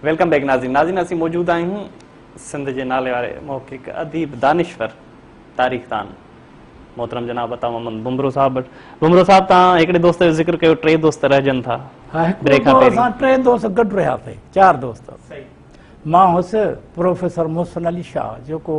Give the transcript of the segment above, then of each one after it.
Welcome back ناظرين ناظرين اسين موجود آهيون سنڌ جي نالي واري محقق اديب دانشور تاريخ دان محترم جناب عطا محمد بمرو صاحب وٽ بمرو صاحب تان هڪڙي دوست جو ذڪر ڪيو ٽي دوست رهجن ٿا ها هڪڙي کان پهرين اسان ٽي دوست گڏ رهيا سي چار دوست صحيح مان هوس پروفيسر محسن علي شاهه جيڪو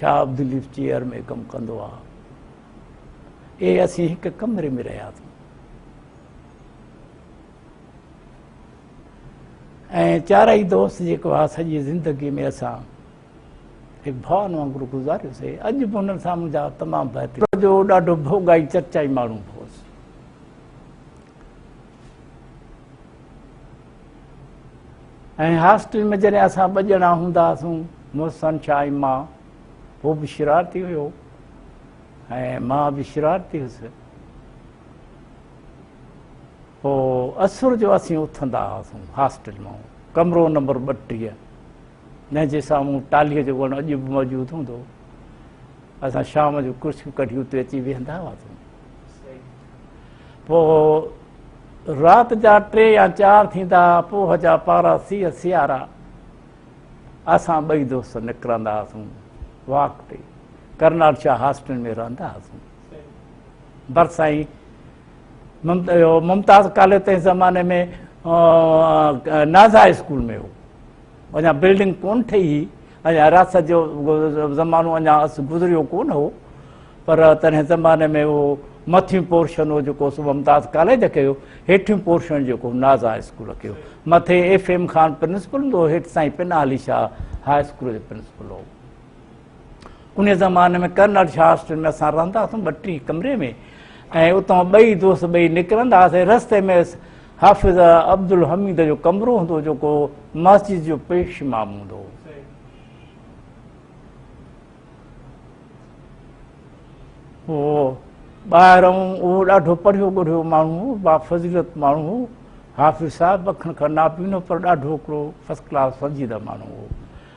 شاهه عبداللطيف چيئر ۾ ڪم ڪندو آ اي اسين هڪ ڪمري ۾ رهياسين ۽ چارئي دوست جيڪو آ سڄي زندگي ۾ اسان هڪ ڀاون وانگر گذاريوسي اڄ به انهن سان منهنجا تمام بهترين جو ڏاڍو ڀوڳائي چرچائي ماڻهو هوس ۽ هاسٽل ۾ جڏهن اسان ٻه ڄڻا هوندا هئاسون محسن شاهه ۽ مان هو به شرارتي هيو ۽ مان به شرارتي هيس پوء اسر جو اسين اٿندا هئاسون هاسٽل مان ڪمرو نمبر ٻٽيهه جنهن جي سامهون ٽاليء جو وڻ اڄ به موجود هوندو اسان شام جو ڪرسيون ڪڍي اتي اچي ويهندا هئاسون پوء رات جا ٽي يا چار ٿيندا پوه جا پارا سيء سيارا اسان ٻئي دوست نڪرندا هئاسون واڪ تي ڪرنال شاهه هاسٽل ۾ رهندا هئاسون برسائي ممتاز ڪاليج تنهن زماني ۾ نازا اسڪول ۾ هو اڃا بلڊنگ ڪونه ٺهي هئي، اڃا حراست جو زمانو اڃا گذريو ڪونه هو، پر تنهن زماني ۾ اهو مٿيون پورشن هو جيڪو صبح ممتاز ڪاليج کي هو، هيٺيون پورشن جيڪو ناز هاء اسڪول کي هو. مٿي ايف ايم خان پرنسپل هوندو هو، هيٺ سائين پناهه علي شاهه هاء اسڪول جو پرنسپل هو. انهيء زماني ۾ ڪرنل شاهسٽن ۾ اسان رهندا هئاسون ٻه ٽي ڪمري ۾ ۽ اتان ٻئي دوست ٻئي نڪرندا هئاسين رستي ۾ حافظ عبدالحميد جو ڪمرو هوندو جيڪو مسجد جو پيش امام هوندو هو ٻاهران اهو ڏاڍو پڙهيو ڳڙهيو ماڻهو هو با فضيلت ماڻهو هو حافظ صاحب اکن کان ناپينو پر ڏاڍو هڪڙو فرسٽ ڪلاس سنجيده ماڻهو هو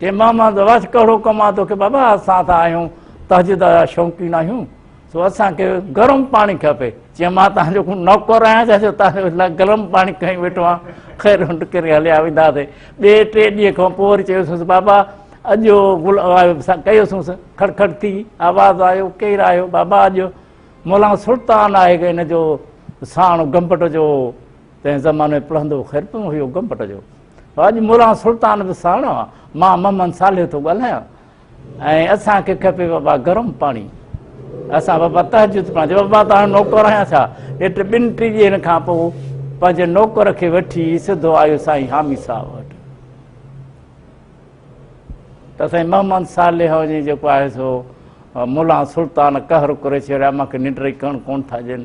چيم ماما ته واس ڪهڙو ڪم آ توکي بابا اسان ته آهيون تهجد جا شوقين آهيون سو اسان کي گرم پاڻي کپي چيم مان تهان جو نوڪر آهيان ڇا جو تهان جو لاء گرم پاڻي کڻي ويٺو آهيان خير هنڊ ڪري هليا وينداسي ٻي ٽي ڏينهن کان پوء وري چيوسس بابا اڄ جو گل ڪيوسس کڙ کڙ ٿي آواز آيو ڪير آيو بابا اڄ مولانا سلطان آهي ان جو ساڻ گمبٽ جو تنهن زماني ۾ پڙهندو خير پيو هيو گم پٽ جو اڄ موران سلطان به ساڻ مان محمد صالح ٿو ڳالهايان ۽ اسان کي کپي بابا گرم پاڻي اسان بابا تهجد پڙهان جو بابا تان نوڪر آهيان ڇا اٽ ٻن ٽي ڏينهن کان پوء پنهنجي نوڪر کي وٺي سڌو آيو سائين حامي صاحب وٽ ته سائين محمد صالح جي جيڪو آهي سو مولا سلطان قهر ڪري ڇڏيا مونکي ننڊ ري ڪڻ ڪون ٿا ڏين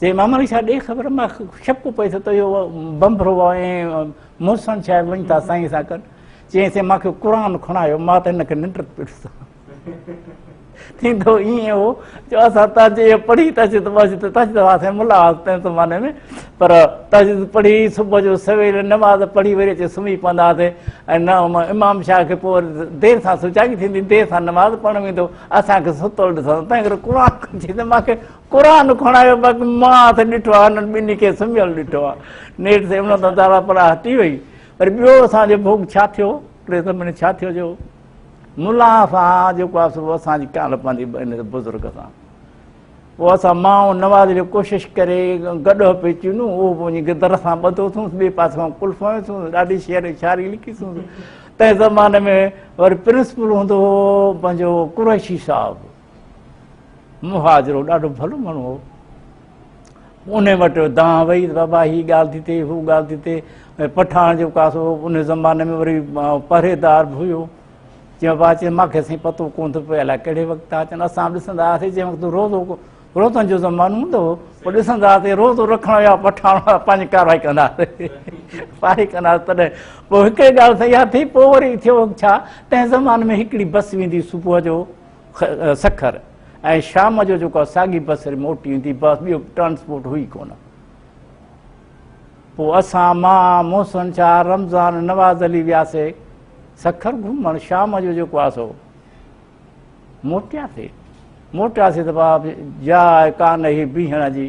چي ماما ويسا ڏي خبر مان شڪ پئي ٿو ته اهو بمبرو ۽ محسن شايد وڃي ٿا سائين سان ڪن چيئي سي ماکي قرآن کڻايو مان ته هن کي ننڊ پيس ٿيندو ائين هو جو اسان تاجي پڙهي تاجي ته ماجي ته تاجي ته واسي ملا تنهن زماني ۾ پر تاجي پڙهي صبح جو سويل نماز پڙهي وري اچي سمهي پوندا هئاسي ۽ نه امام شاهه کي پوء دير سان سجاڳي ٿيندي دير سان نماز پڙهڻ ويندو اسان کي ستل ڏسندو تنهن ڪري قرآن کڻجي ته ماکي قرآن کڻايو بس مان اٿ ڏٺو آ هنن ٻنهي کي سمهيل ڏٺو آ نيٺ سي ان تان تارا پرا هٽي وئي وري ٻيو اسان جو ڀوڳ ڇا ٿيو ٽي سمي ۾ ڇا ٿيو جو ملا سان جيڪو آ سو اسان جي ڪالهه پنهنجي ان بزرگ سان پوء اسان ماء نواز جو ڪوشش ڪري گڏهه پي چونو اهو به وڃي گدر سان ٻڌو اٿونس ٻئي پاسي کان قلف هنيو اٿونس ڏاڍي شعر ۽ شاعري لکي اٿونس تنهن زماني ۾ وري پرنسپل هوندو هو پنهنجو قريشي صاحب مهاجرو ڏاڍو ڀلو ماڻهو هو ان وٽ دان وئي بابا هي ڳالهه ٿي ٿئي هو ڳالهه ٿي ٿئي ۽ پٺاڻ جو ڪاسو ان زماني ۾ وري پرهيدار به هيو چيو بابا چي ماکي سائين پتو ڪون ٿو پئي الائي ڪهڙي وقت تھا اچن اسان به ڏسندا هئاسي جنهن وقت روزو روزن جو زمانو هوندو هو پوء ڏسندا هئاسي روزو رکڻ يا پٺاڻ پنهنجي ڪارروائي ڪندا هئاسي پاري ڪندا هئاسي تڏهن پوء هڪڙي ڳالهه سياح ٿي پوء وري ٿيو ڇا تنهن زماني ۾ هڪڙي بس ويندي صبح جو سکر ۽ شام جو جيڪو ساڳي بسر موٽي ايندي بس ٻيو ٽرانسپورٽ هئي ڪونه پوء اسان مان محسن شاهه رمضان نواز علي وياسي سکر گهمڻ شام جو جيڪو آ سو موٽياسي موٽياسي ته باب جاء ڪانه هي بيهڻ جي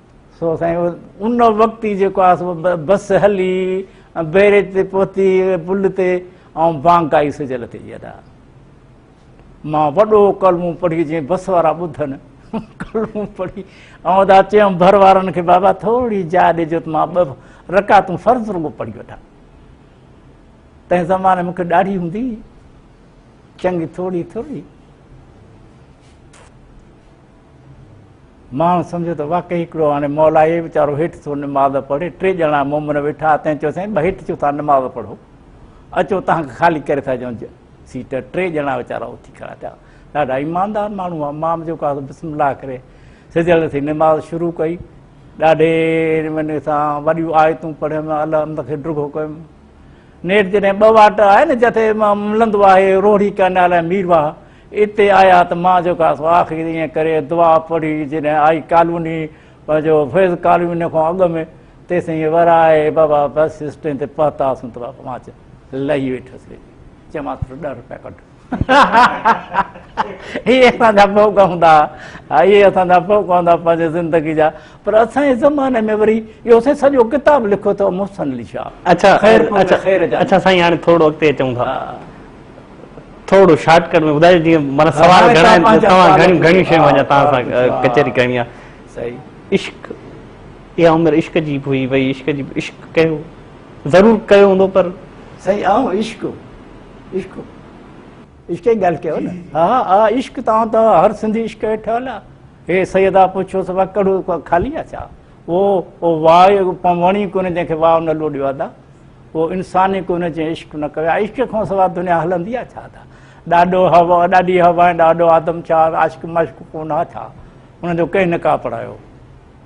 سو سائين ان وقت ئي جيڪو آهي بس هلي بيريج تي پهتي پل تي ۽ بانڪ آئي سجل تي جي ادا مان وڏو ڪلمون پڙهي جي بس وارا ٻڌن ڪلمون پڙهي ۽ ادا چيم ڀر وارن کي بابا ٿوري جا ڏجو ته مان ٻه رڪعتون فرض رڳو پڙهي وٺان تنهن زماني مونکي ڏاڙهي هوندي چڱي ٿوري ٿوري ماڻهن سمجهيو ته واقعي هڪڙو هاڻي مئل آهي، ويچارو هيٺ ٿو نماز پڙهي. ٽي ڄڻا مومن ويٺا، تنهن چيو سائين هيٺ ڇو ٿا نماز پڙهو، اچو توهان کي خالي ڪري ٿا ڏيون سيٽ. ٽي ڄڻا ويچارا اٿي کڙا ٿيا، ڏاڍا ايماندار ماڻهو هئا، امام جيڪو آهي بسم الله ڪري سڌيل ٿي نماز شروع ڪئي، ڏاڍي نموني سان وڏيون آيتون پڙهيم، الحمد کي ڊگهو ڪيم. نيٺ جڏهن ٻه واٽ آهي نه جتي ملندو آهي روهڙي ڪئنال ۽ مير واهه اتي آيا ته مان جيڪا سو آخر ائين ڪري دعا پڙهي جڏهن آئي ڪالوني پنهنجو فيض ڪالوني کان اڳ ۾ تيسين ورائي بابا بس اسٽينڊ تي پهتاسون ته بابا مان لهي ويٺس چيمانس ڏهه روپيا ڪڍ اهي اسان جا پهڪ هوندا ها، اهي اسان جا پهڪ هوندا پنهنجي زندگي جا، پر اسان جي زماني ۾ وري اهو سائين سڄو ڪتاب لکيو اٿئو محسن علي شاهه. اڇا اڇا سائين هاڻي ٿورڙو اڳتي اچون ٿا ٿورڙو شارٽ ڪٽ ۾ ٻڌايو جيئن معنيٰ سوال گهڻا آهن ته توهان گهڻيون گهڻيون شيون اڃا توهان سان ڪچهري ڪرڻي آهي. صحيح عشق اها عمر عشق جي به هئي وئي عشق جي عشق ڪيو ضرور ڪيو هوندو پر سائين آئون عشق. عشق عشق جي ڳالهه ڪيو نه ها ها عشق تان ته هر سنڌي عشق هيٺ هلا هي سيدا پڇيو سو ڪڙو خالي آ ڇا او او واء وڻي ڪونه جنهن کي واء نه لوڏيو ادا او انسان ئي ڪونه جنهن عشق نه ڪيو عشق کان سوا دنيا هلندي آ ڇا ادا ڏاڏو هوا ڏاڏي هوا ۽ ڏاڏو آدم ڇا عاشق مشق ڪونه آ ڇا انهن جو ڪنهن نه ڪا پڙهايو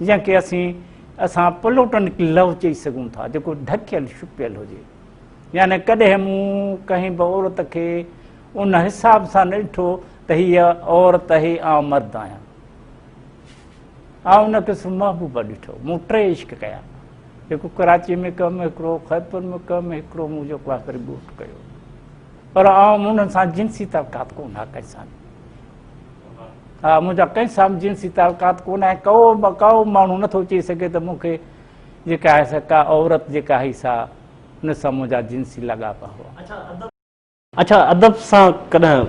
جنهن کي اسين اسان پلوٽنڪ لو چئي سگهون ٿا، جيڪو ڍڪيل ڇپيل هجي. يعني ڪڏهن مون ڪنهن به عورت کي ان حساب سان نه ڏٺو ته هيء عورت اهي آئون مرد آهيان. آئون ان کي صرف محبوبه ڏٺو. مون ٽي عشق ڪيا. هڪ ڪراچي ۾ ڪم هڪڙو خيبر ۾ ڪم هڪڙو مون جو ڪلاس وري ڳوٺ ڪيو. پر آئون انهن سان جنسي تعلقات ڪونه ها ڪري سان. ها منهنجا ڪنهن سام جنسي تعلقات ڪونه آهن ڪو به ڪاو ماڻهو نٿو چئي سگهي ته مون کي جيڪا آهي سا ڪا عورت جيڪا هئي سا ان سان منهنجا جنسي لاڳاپا هئا اڇا ادب سان ڪڏهن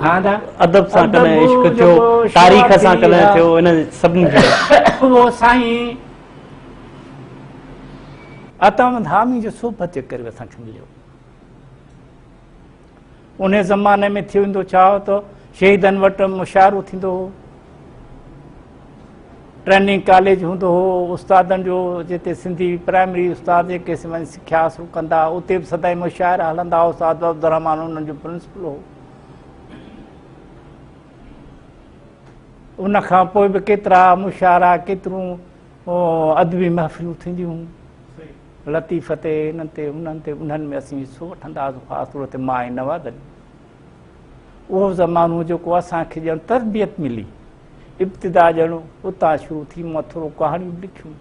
ها دا ادب سان ڪڏهن عشق ٿيو تاريخ سان ڪڏهن ٿيو ان سڀ نه ٿيو هو سائين اتم ڌامي جو صحبت جي ڪري اسان کي مليو انهي زماني ۾ ٿيو ويندو ڇا هو ته شهيدن وٽ مشاعرو ٿيندو هو ٽريننگ ڪاليج هوندو هو استادن جو جتي سنڌي پرائمري استاد جيڪي وڃي سکيا حاصل ڪندا اتي به سدائين مشاعرا هلندا هو استاد عبدالرحمان انهن جو پرنسپل هو ان کان پوء به ڪيترا مشاعرا ڪيترون ادبي محفلون ٿينديون هيون لطيفه تي، هنن تي، هنن تي، انهن ۾ اسين حصو وٺندا هئاسون، خاص طور تي مان ۽ نواد علي. اهو زمانو هو جيڪو اسان کي ڄڻ تربيت ملي، ابتدا ڄڻ اتان شروع ٿي، مون ٿورو ڪهاڻيون به لکيون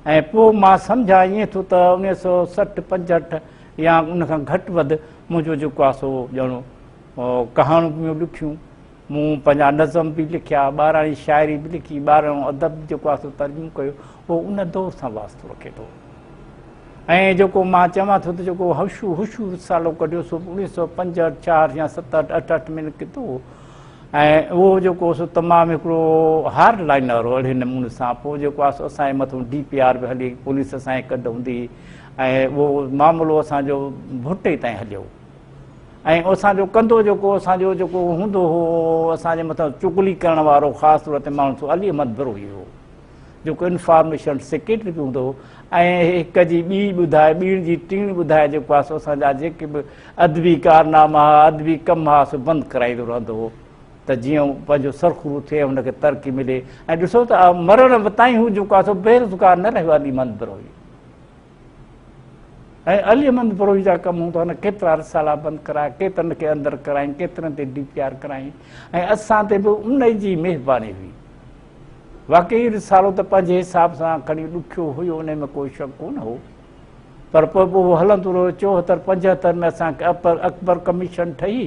۽ پوء مان سمجهان ائين ٿو ته اڻويهه سؤ سٺ پنجهٺ يا ان کان گهٽ وڌ منهنجو جيڪو آهي سو ڄڻ ڪهاڻيون به مون لکيون. مون پنهنجا نظم به لکيا، ٻاراڻي شاعري به لکي، ٻاراڻو ادب جيڪو آهي سو ترجمو ڪيو، اهو ان دور سان واسطو رکي ٿو. ۽ جيڪو مان چوان ٿو ته جيڪو هشو هشو رسالو ڪڍيو سو به اڻيهه سؤ پنجهٺ، ڇهاٺ يا ستهٺ، اٺهٺ ۾ نڪتو هو ۽ اهو جيڪو سو تمام هڪڙو هارڊ لائنر هو اهڙي نموني سان پوء جيڪو آهي سو اسان جي مٿون ڊي پي آر به هلي، پوليس اسان جي ڪڍ هوندي هئي ۽ اهو معاملو اسان جو ڀٽي تائين هليو. ۽ اسان جو ڪندو جيڪو اسان جو جيڪو هوندو هو اسان جي مٿان چغلي ڪرڻ وارو خاص طور تي ماڻهو سو علي احمد بروهي هو جيڪو انفارميشن سيڪريٽري به هوندو هو ۽ هڪ جي ٻي ٻڌائي ٻيڻ جي ٽيڻ ٻڌائي جيڪو آهي سو اسان جا جيڪي به ادبي ڪارناما هئا ادبي ڪم هئا سو بند ڪرائيندو رهندو هو ته جيئن پنهنجو سرخرو ٿئي هن کي ترقي ملي ۽ ڏسو ته مرڻ تائين هو جيڪو آهي سو بيروزگار نه رهيو علي محمد بروهي ۽ علي احمد بروهي جا ڪم هوندا هن ڪيترا رسالا بند ڪرايا ڪيترن کي اندر ڪرايائين ڪيترن تي ڊي پي آر ڪرايائين ۽ اسان تي به ان جي مهرباني هئي واقعي رسالو ته پنهنجي حساب سان کڻي ڏکيو هيو ان ۾ ڪو شڪ ڪونه هو پر پوء به اهو هلندو رهيو چوهتر پنجهتر ۾ اسان کي اپر اڪبر ڪميشن ٺهي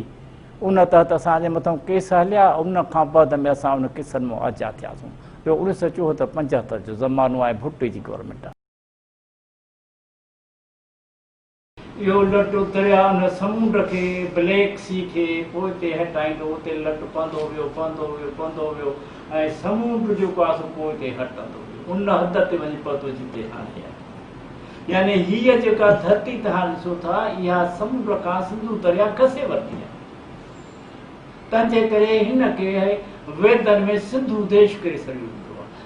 ان تحت اسان جي مٿان ڪيس هليا ان کان بعد ۾ اسان ان ڪيسن مون آجا ٿياسون جو انيس سو چوهتر پنجهتر جو زمانو آهي ڀٽي جي گورنمنٽ اهو لٽ درياء ان سمنڊ کي، بليڪ سي کي، پوئتي هٽائيندو. اتي لٽ پنڌو ويو، پنڌو ويو، پنڌو ويو ۽ سمنڊ جو پاسو پوئتي هٽندو ويو. ان حد تي وڃي پهتو جتي هاڻي آهي. يعني هيء جيڪا ڌرتي توهان ڏسو ٿا، اها سمنڊ کان سنڌو درياء کسي ورتي آهي. تنهنجي ڪري هن کي ويدن ۾ سنڌو ديش ڪري سڏيو ويندو آهي.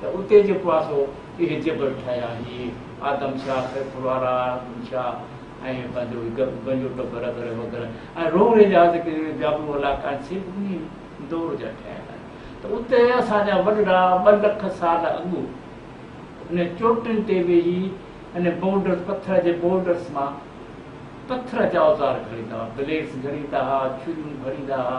ته اتي جيڪو آهي سو اهي جبل ٺاهيا هي آدم شاهه، سيف وارا، ارجن شاهه ۽ پنهنجو هي گنجو ٽٻر وغيره وغيره ۽ روهڙي جا جيڪي جابلو علائقا آهن سي به انهي دور جا ٺهيل آهن ته اتي اسان جا وڏڙا ٻه لک سال اڳ انهن چوٽين تي ويهي انهن بولڊرز پٿر جي بولڊرز مان پٿر جا اوزار گهڙيندا هئا، بليڊز گهڙيندا هئا، ڇريون گهڙيندا هئا.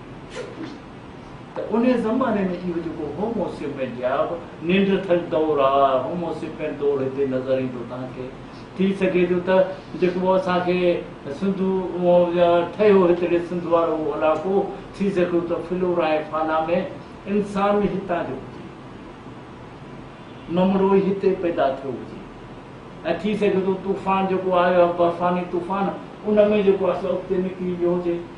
شڪتيون ته ان زماني ۾ اهو جيڪو هومو سيپين يا نينڊرٿل دور آ هومو سيپين دور هتي نظر ايندو توهان کي ٿي سگهي ٿو ته جيڪو اسان کي سنڌو يا ٺهيو هتڙي سنڌ وارو علائقو ٿي سگهيو ته فلورا ۽ فانا ۾ انسان ئي هتان جو هجي ممڙو ئي هتي پيدا ٿيو هجي ۽ ٿي سگهي ٿو طوفان جيڪو آيو آ برفاني طوفان ان ۾ جيڪو آ سو اڳتي نڪري ويو هجي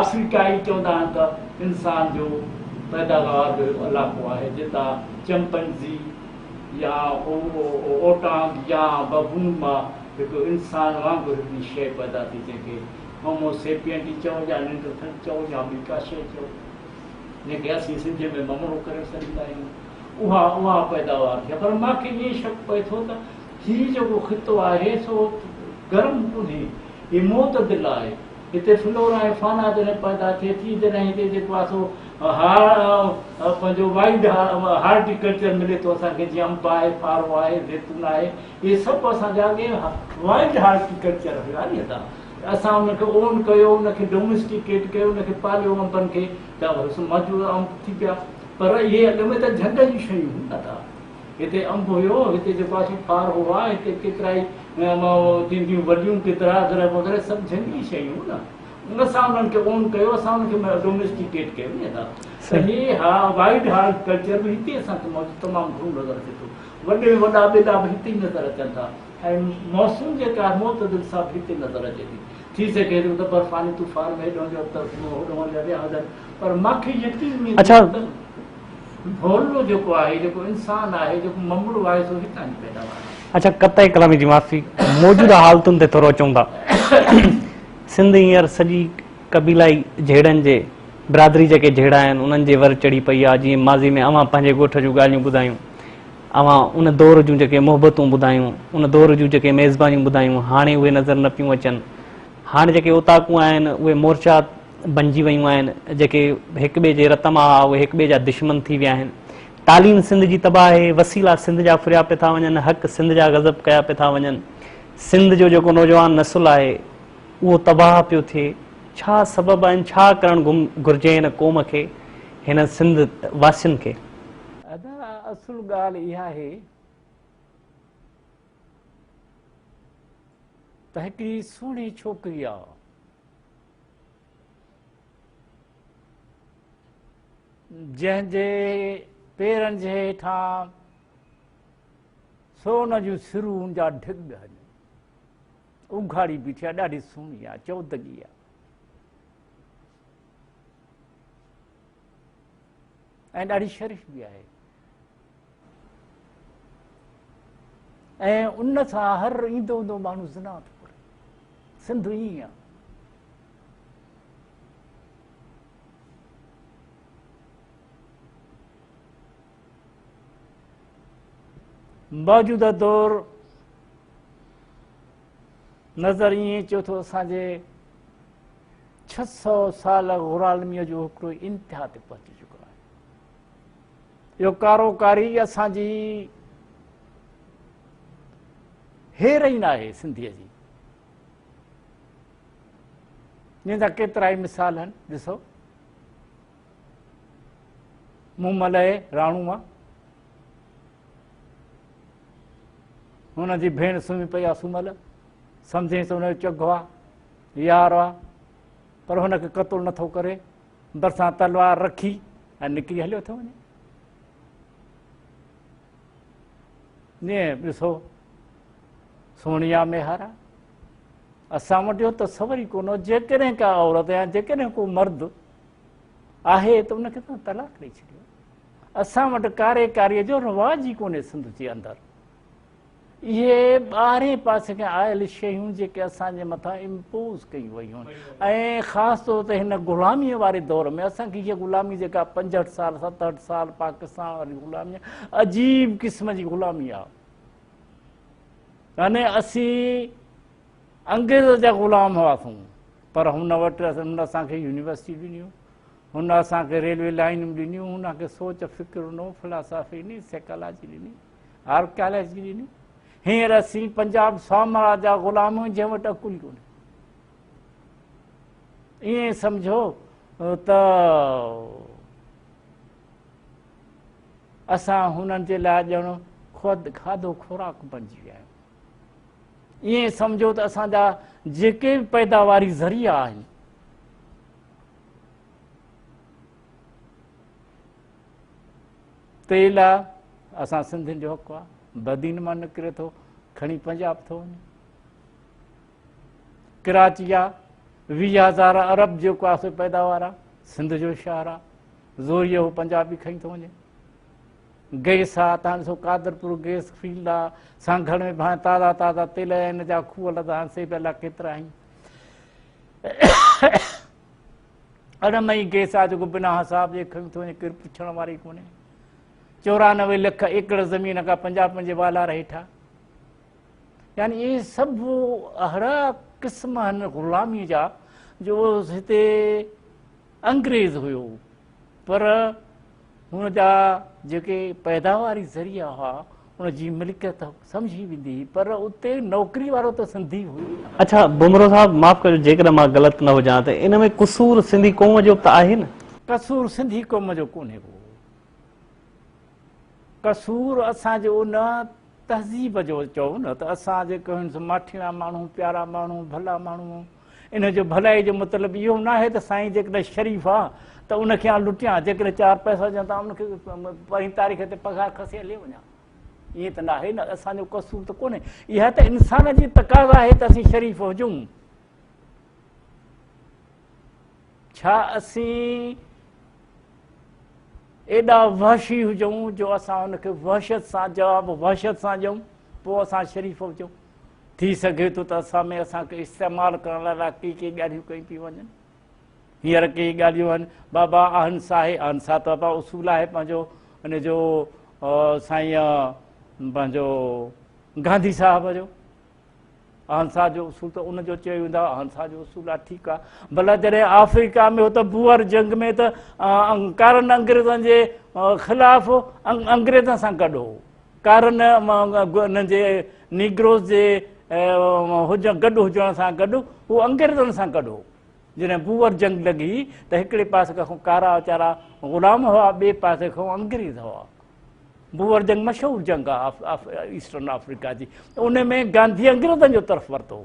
آخري ٽائي چوندا آهن ته انسان جو پيداوار جو هڪ علائقو آهي جتا چمپنزي يا اوٽانگ يا ببون مان هڪ انسان وانگر هڪڙي شيء پيدا ٿي جنهن کي هومو سيپينٽي چئو يا نينڊرٿل چئو يا ٻي ڪا شيء چئو جنهن کي اسين سنڌي ۾ ممرو ڪري سڏيندا آهيون اها اها پيداوار ٿي پر مان کي ائين شڪ پئي ٿو ته هي جيڪو خطو آهي سو گرم ڪونهي هي معتدل آهي هتي فلورا ۽ فانا جڏهن پيدا ٿئي ٿي جڏهن هتي جيڪو آهي سو پنهنجو وائلڊ هارٽي ڪلچر ملي ٿو اسان کي جيئن انب آهي ڦارو آهي زيتون آهي اهي سڀ اسان جا اڳي وائلڊ هارٽي ڪلچر هيا ني اسان اسان ان کي اون ڪيو ان کي ڊوميسٽيڪيٽ ڪيو ان کي پاليو انبن کي ته موجوده انب ٿي پيا پر اهي اڳ ۾ ته جهنگ جون شيون هيون نه ته هتي انب هيو، هتي جيڪو آسي ڦار هئا، هتي ڪيترائي تينديون وڏيون، گدرا اگرح وغيره سڀ جهنگلي شيون هئون نه، ان سان انهن کي اون ڪيو، اسان انهن کي ڊوميسٽيڪيٽ ڪيو ني ادا، ته هي ها وائيڊ هارڊ ڪلچر به هتي اسان کي موجود تمام گهڻو نظر اچي ٿو، وڏي ۾ وڏا ٻيلا به هتي ئي نظر اچن ٿا ۽ مونسون جيڪا آهي معتدل سا به هتي نظر اچي ٿي، ٿي سگهي ٿو ته برفاني طوفان ۾ هيڏهون جو اٿس هوڏهون جا ويا هجن پر مان کي يقين ۾ اچي ٿو ته. ڀولڙو جيڪو آهي، جيڪو انسان آهي، جيڪو ممڙو آهي سو هتان جي پيداوار آهي. اچا قطعي ڪلامي جي معافي. موجوده حالتن تي ٿورو اچون ٿا. سنڌ هينئر سڄي قبيلائي جهيڙن جي برادري جيڪي جهيڙا آهن انهن جي ور چڙهي پئي آهي جيئن ماضي ۾ اوهان پنهنجي ڳوٺ جون ڳالهيون ٻڌايون اوهان ان دور جون جيڪي محبتون ٻڌايون ان دور جون جيڪي ميزبانيون ٻڌايون هاڻي اهي نظر نه پيون اچن هاڻي جيڪي اوطاقون آهن اهي مورچا بنجي ويون آهن جيڪي هڪ ٻئي جي رت مان اهي هڪ ٻئي جا دشمن ٿي ويا آهن تعليم سنڌ جي تباهه آهي وسيلا سنڌ جا ڦريا پي ٿا وڃن حق سنڌ جا غضب ڪيا پي ٿا وڃن سنڌ جو جيڪو نوجوان نسل آهي اهو تباهه پيو ٿئي ڇا سبب آهن ڇا ڪرڻ گهرجي هن قوم کي هن سنڌ واسين کي ادا اصل ڳالهه اها آهي ته هڪڙي سهڻي ڇوڪري آ جنهن جي پيرن جي هيٺان سون جون سرون جا ڍڳ هن اگهاڙي بيٺي آ ڏاڍي سهڻي آ چودگي آ ۽ ڏاڍي شريف به آهي ۽ ان سان هر ايندو ايندو ماڻهو زنا ٿو ڪري سنڌ ائين آهي موجوده دور نظر ائين اچيو ٿو اسان جي ڇهه سؤ سال غرالميء جو هڪڙو انتها تي پهچي چڪو آهي اهو ڪارو ڪاري اسان جي هيرئين آهي سنڌيء جي جن جا ڪيترا ئي مثال آهن ڏسو مون ملئي راڻوء هن جي ڀيڻ سمهي پئي آ سمهل سمجهين ته هن جو چگهو آ يار آ پر هن کي قتل نٿو ڪري برسان تلوار رکي ۽ نڪري هليو ٿو وڃي ڏسو سوني آ ميهار آ اسان وٽ اهو تصور ئي ڪونه جيڪڏهن ڪا عورت يا جيڪڏهن ڪو مرد آهي ته ان کي تون طلاق ڏئي ڇڏيو اسان وٽ ڪاري ڪاري جو رواج ئي ڪونهي سنڌ جي اندر اهي ٻاهرين پاسي کان آيل شيون جيڪي اسان جي مٿان امپوز ڪيون ويون ۽ خاص طور تي هن غلامي واري دور ۾ اسان کي هيء غلامي جيڪا پنجهٺ سال ستهٺ سال پاڪستان واري غلامي عجيب قسم جي غلامي آهي يعني اسين انگريز جا غلام هئاسون پر هن وٽ هن اسان کي يونيورسٽيون ڏنيون، هن اسان کي ريلوي لائينون ڏنيون، هن کي سوچ فڪر نو فلاسافي ڏني، سيڪالاجي ڏني، آرڪيالاجي ڏني. هينئر اسين پنجاب سامراج جا غلام آهيون جنهن وٽ عقل ئي ڪونهي. ائين سمجھو ته اسان هنن جي لاء ڄڻ کاڌو خوراڪ بنجي ويا آهيون. ائين سمجهو ته اسان جا جيڪي به پيداواري ذريعا آهن تيل آ اسان سنڌين جو حق آ بدين مان نڪري ٿو کڻي پنجاب ٿو وڃي ڪراچي آ ويهه هزار ارب جيڪو آ سو پيداوار آ سنڌ جو شهر آ زوريو پنجابي کڻي ٿو وڃي گئس آ تان ڏسو قادرپور گئس فيلڊ آ سانگهڙ ۾ ڀانء تازا تازا تيل ۽ ان جا کوهه لڌا آهن سي به الله ڪيترا هين اڙم ۽ گئس آ جيڪو بنا حساب جي کڻي ٿو وڃي ڪير پڇڻ واري ڪونهي چورانوي لک ايڪڙ زمين اگا پنجاب پنهنجي والار هيٺا يعني اهي سڀ اهڙا قسم آهن غلامي جا جو هتي انگريز هيو پر هن جا جيڪي پيداواري ذريعا هئا ان جي ملڪيت سمجهي ويندي هئي پر اتي نوڪري وارو ته سنڌي هئي نه. اڇا بومرو صاحب معاف ڪجو جيڪڏهن مان غلط نه هجان ته ان ۾ قصور سنڌي قوم جو به ته آهي نه؟ قصور سنڌي قوم جو ڪونهي ڪو. قصور اسان جي ان تهذيب جو چئو نه ته اسان جيڪي هيون سو ماٺيڻا ماڻهو، پيارا ماڻهو، ڀلا ماڻهو، ان جو ڀلائي جو مطلب اهو ناهي ته سائين جيڪڏهن شريف آ ته ان کي آن لٽيان، جيڪڏهن چار پئسا هجن ته آن ان کي پرين تاريخ تي پگهار کسي هلي وڃان. ائين ته ناهي نه، اسان جو قصور ته ڪونهي، اها ته انسان جي تقاضا آهي ته اسين شريف هجون. ڇا اسين ايڏا وحشي هجون جو اسان ان کي وحشت سان جواب وحشت سان ڏيون، پوء اسان شريف هجون. ٿي سگهي ٿو ته اسان ۾ اسان کي استعمال ڪرڻ لاء الاء ڪي ڪي ڳالهيون ڪيون پيون وڃن. هينئر ڪي ڳالهيون آهن بابا اهنسا آهي، اهنسا ته بابا اصول آهي پنهنجو ان جو سائين پنهنجو گانڌي صاحب جو اهنسا جو اصول ته ان جو چيو ويندو اهنسا جو اصول آهي ٺيڪ آهي بلا جڏهن آفريڪا ۾ هو ته بوئر جنگ ۾ ته ڪارن انگريزن جي خلاف انگريزن سان گڏ هو ڪارن انهن جي نيگروز جي گڏ هجڻ سان گڏ هو انگريزن سان گڏ هو. جڏهن بوئر جنگ لڳي ته هڪڙي پاسي کان ڪارا ويچارا غلام هئا ٻئي پاسي کان انگريز هئا. بوئر جنگ مشهور جنگ آهي ايسٽرن آفريڪا جي. ان ۾ گانڌي انگريزن جو طرف ورتو هو.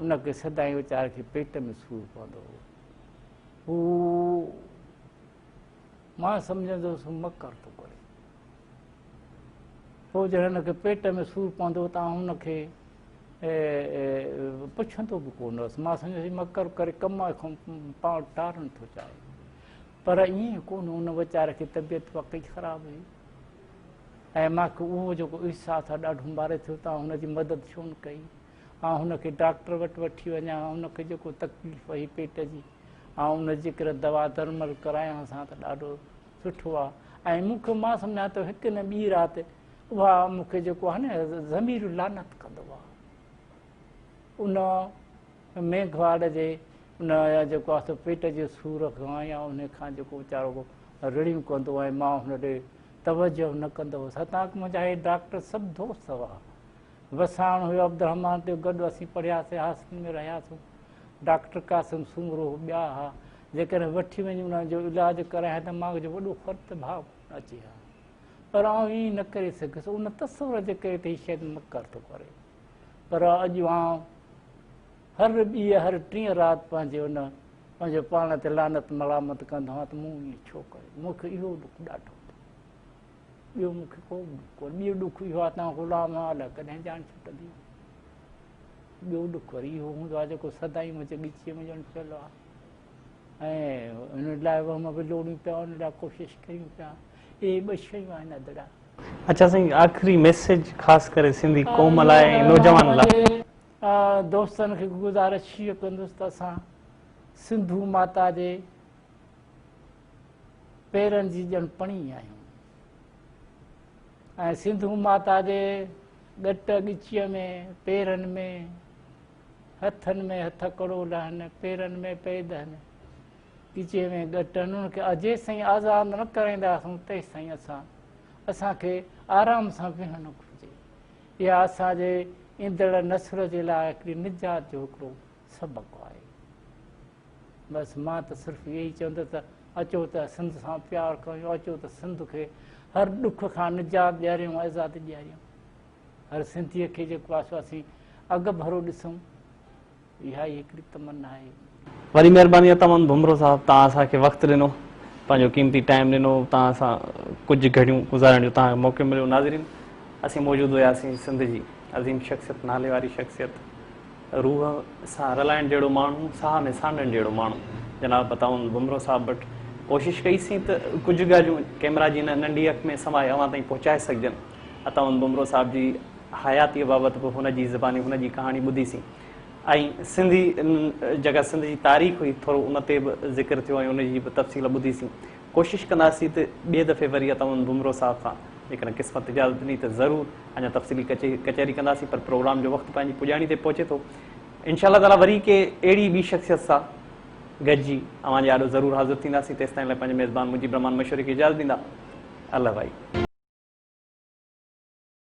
ان کي سدائين ويچاري کي پيٽ ۾ سور پوندو هو هو مان سمجهندو هوس مڪر ٿو ڪري پوء جڏهن هن کي پيٽ ۾ سور پوندو ته آئون هن کي پڇندو به ڪونه هوس مان سمجهندو مڪر ڪري ڪم کان پاڻ ٽارڻ ٿو چاهي پر ائين ڪونه هو، ان ويچاري کي طبيعت واقعي خراب هئي ۽ مان کي اهو جيڪو احساس آهي ڏاڍو ماري ٿيو ته آئون هن جي مدد ڇو نه ڪئي، آئون هن کي ڊاڪٽر وٽ وٺي وڃان، هن کي جيڪو تڪليف هئي پيٽ جي آئون ان جي ڪري دوا درمل ڪرايانس ها ته ڏاڍو سٺو آ ۽ مون کي مان سمجهان ته هڪ نه ٻي رات اها مون کي جيڪو آهي نه ضمير لعنت ڪندو آ ان ميگهواڙ جي ان يا جيڪو آهي سو پيٽ جي سور کان يا انهي کان جيڪو ويچارو ڪو رڙيون ڪندو ۽ ماء هن ڏي توجه نه ڪندو هو ستان ڪه منهنجا هي ڊاڪٽر سڀ دوست هئا وساڻ هيو عبدالرحمان تي گڏ اسين پڙهياسين هاسٽل ۾ رهياسون ڊاڪٽر قاسم سومرو ٻيا ها جيڪڏهن وٺي وڃي انهن جو علاج ڪرايان ته ماڳ جو وڏو فرت ڀاء ڪونه اچي ها پر آئون ائين نه ڪري سگهيس ان تصور جي ڪري ته هي شايد مڪر ٿو ڪري پر اڄ آئون هر ٻيء هر ٽين رات پنهنجي ان پنهنجو پاڻ تي لعنت ملامت ڪندو آهيان ته مون ائين ڇو ڪيو مون کي اهو ڏک ڏاڍو ٻيو مون کي ڪو به ڏک ڪونهي ٻيو ڏک اهو آهي تان غلام آهي الاء ڪڏهن جان ڇٽندي ٻيو ڏک وري اهو هوندو آهي جيڪو سدائين منهنجي ڳچيء ۾ ڄڻ پيل آهي ۽ ان لاء وهم به لوڙيون پيا ان لاء ڪوشش ڪيون پيا اهي ٻه شيون آهن ادڙا اچا سائين آخري ميسيج خاص ڪري سنڌي قوم لاء ۽ نوجوان لاء. دوستن کي گذارش هيء ڪندس ته اسان سنڌو ماتا جي پيرن جي ڄڻ پڻي آهيون ۽ سنڌو ماتا جي ڳٽ ڳچيء ۾ پيرن ۾ هٿن ۾ هٿڪڙو لهن پيرن ۾ پئي دهن ڳچيء ۾ ڳٽ انهن کي جيسين آزاد نه ڪرائينداسون تيسين اسان اسان کي آرام سان ويهڻ گهرجي. اها اسان جي ايندڙ نسل جي لاء هڪڙي نجات جو هڪڙو سبق آهي. بس مان ته صرف اهو ئي چوندس ته اچو ته سنڌ سان پيار ڪريون اچو ته سنڌ کي هر ڏک کان نجات ڏياريون آزادي ڏياريون هر سنڌيء کي جيڪو آسو اسين اڳڀرو ڏسون اها ئي هڪڙي تمنا آهي. وڏي مهرباني اٿم امن ڀمرو صاحب توهان اسان کي وقت ڏنو پنهنجو قيمتي ٽائيم ڏنو توهان سان ڪجهه گهڙيون گذارڻ جو توهان کي موقعو مليو ناظرين اسين موجود هياسين سنڌ جي عظيم شخصيت نالي واري شخصيت روح سان رلائڻ جهڙو ماڻهو ساهه ۾ سانڍڻ جهڙو ماڻهو جناب عطا امن ڀمرو صاحب وٽ ڪوشش ڪئي سين ته ڪجهه ڳالهيون ڪيمرا جي هن ننڍي اک ۾ سمائي اوهان تائين پهچائي سگهجن عطا امن ڀمرو صاحب جي حياتيء بابت به هن جي زباني هن جي ڪهاڻي ٻڌي سين ۽ سنڌي جيڪا سنڌ جي تاريخ هئي ٿورو ان تي به ذڪر ٿيو ۽ ان جي به تفصيل ٻڌي سين ڪوشش ڪنداسين ته ٻئي دفعي وري اتمن بمرو صاحب سان جيڪڏهن قسمت اجازت ڏني ته ضرور اڃا تفصيلي ڪچهري ڪنداسين پر پروگرام جو وقت پنهنجي پڄاڻي تي پهچي ٿو انشاء الله تعاليٰ وري ڪي اهڙي ٻي شخصيت سان گڏجي اوهان جي آڏو ضرور حاضر ٿينداسين تيستائين لاء پنهنجي ميزبان مجيب الرحمان مشوري کي اجازت ڏيندا الله بھائي.